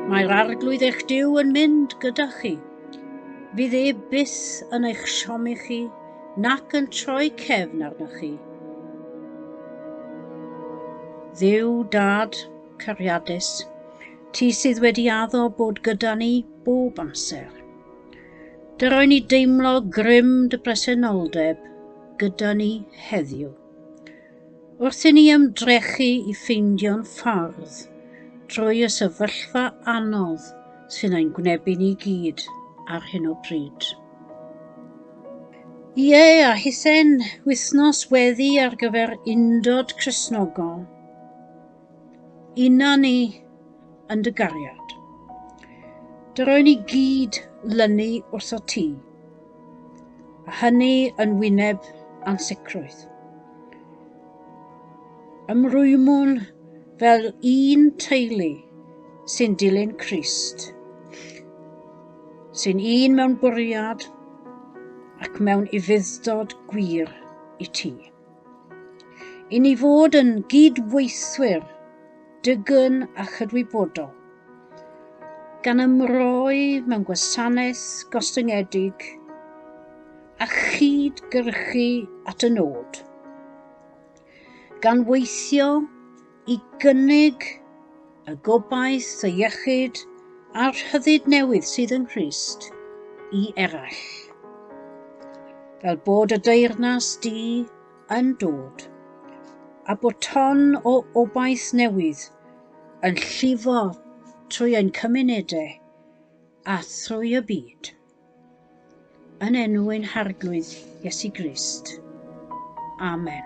Mae'r arglwydd eich diw yn mynd gyda chi. Fydd e bus yn eich siomi chi nac yn troi cefn arnoch chi. Dduw dad, cariadus, ti sydd wedi addo bod gyda ni bob amser. Dyroi ni deimlo grym dy bresenoldeb gyda ni heddiw. Wrth i ni ymdrechu i ffeindio'n ffordd drwy y sefyllfa anodd sy'n ein gwynebu ni gyd ar hyn o bryd. Ie, a hithen wythnos weddi ar gyfer undod Cresnogol. Una ni yn dy gariad. Dy roen i gyd lynu wrth o ti, a hynny yn wyneb ansicrwydd. Ymrwymwn fel un teulu sy'n dilyn Christ, sy'n un mewn bwriad ac mewn ufudd-dod gwir i ti. I ni fod yn gydweithwyr dygyn a chydwybodol, gan ymroi mewn gwasanaeth gostyngedig a chyd-gyrchu at y nod, gan weithio i gynnig y gobaith, y iechyd a'r rhyddid newydd sydd yng Nghrist i eraill. Fel bod y deyrnas di yn dod, a bod ton o obaith newydd yn llifo trwy ein cymunedau a thrwy y byd. Yn enw ein Harglwydd Iesu Grist. Amen.